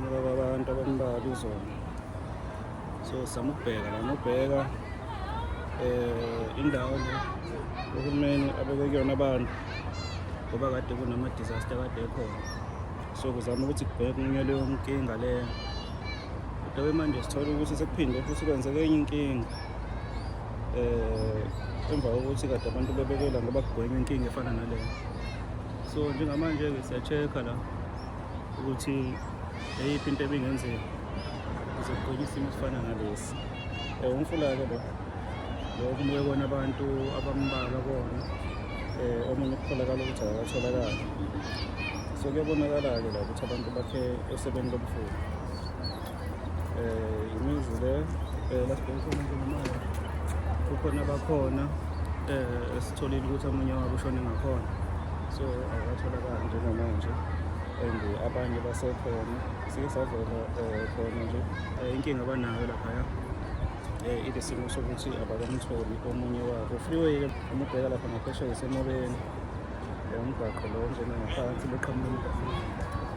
Ngoba abantu abambalwa izona. So sama ukubheka la nobheka eh indawo le uhulumeni abeke kuyona abantu ngoba kade kunama disaster kade ekhona. So kuzama ukuthi kubheke kunye leyo nkinga le. Kodwa manje sithola ukuthi sekuphinde futhi kwenzeke enye inkinga. Eh emva kokuthi kade abantu bebekela ngoba kugwenywa inkinga efana naleyo. So njengamanje-ke siya-check-a la. ukuthi eyiphi into ebingenzeka ukuze kugcine isimo esifana nalesi um umfula-ke lo lo kumuke kona abantu abambalwa kona um omunye kutholakala ukuthi akakatholakali so kuyabonakala-ke la ukuthi abantu bakhe esebeni lomfula Eh, imizi le eh, la sibhekisa umuntu ngemali kukhona abakhona eh, esitholile ukuthi omunye wabo ushone ngakhona so akatholakali njengamanje and abanye basekhona sike savela eh, khona nje Eh, inkinga abanayo laphaya eh, ile simo sokuthi abakamtholi omunye wabo freeway umubheka lapha ngaphesheya esemobeni Eh, umgwaqo lo njena ngaphansi beqhamuka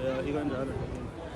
Eh, ikanjalo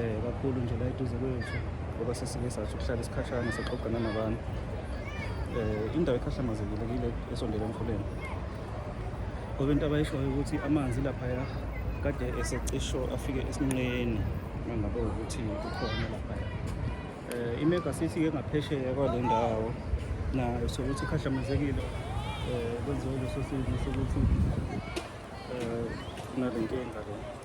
um kakhulu nje la eduze kwethu ngoba sesike sathi ukuhlala isikhashana sixoxana nabantu um indawo ekhahlamazekile kile esondele emfuleni ngoba into abayishoyo ukuthi amanzi laphaya kade esecisho afike esinqeni mangabe ukuthi kukhona laphaya um imega sithi ke ngaphesheya kwale ndawo nayo sokuthi ikhahlamazekile um kwenziwe leso simo sokuthi um kunale nkinga le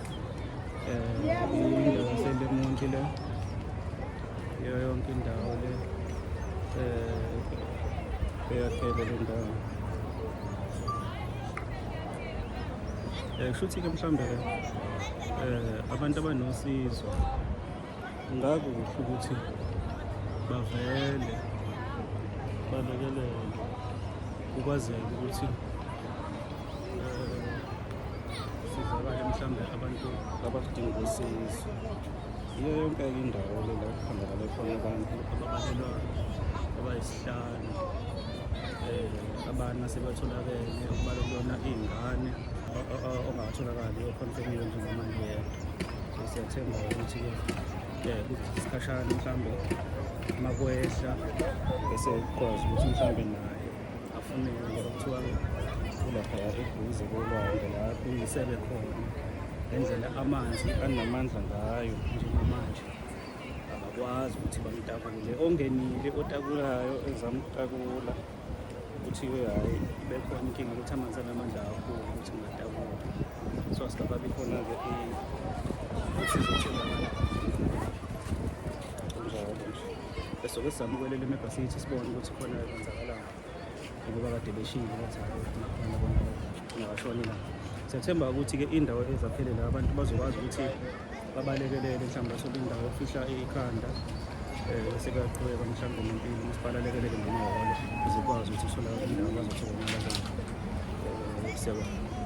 kushuthi-ke mhlawumbe um eh, abantu abanosizo ngakuhle ukuthi bavele balekelele kukwazeke ukuthi sizakale mhlawumbe abantu abakudinga usizo yiyo yonke indawo le la kuphambakale khona abantu ababalelwa abayisihlanu um abana sebatholakele okubala kuyona iy'ngane ongatholakali okhonfemile njengamanje yedwa siyathemba ukuthi-ke um isikhashana mhlawumbe uma kwehla bese kukwazi ukuthi mhlawumbe naye afune ngeke kuthiwa kulapha yakuduze kolwandle la kunisebe khona ngendlela amanzi anamandla ngayo njengamanje akakwazi ukuthi bamtakule ongenile otakulayo ezamtakula kuthiwe hhayi bekhona inkinga ukuthi amanzi anamandla kakhulu ukuthi ngatakula so asikababi khona-ke ukuthi izotholakala njalo nje besoke sizamukwelela emebhasithi sibone ukuthi khona ngoba kade beshile bathi ngabashonela siyathemba ukuthi-ke indawo ezaphelele abantu bazokwazi ukuthi babalekelele mhlawumbe bathole indawo ofihla ikhanda um sekuyaqhubeka mhlawumbe nempilo ukuthi balalekelele ngamahholo zikwazi ukuthi usolakala indawo bazothola imali siyabona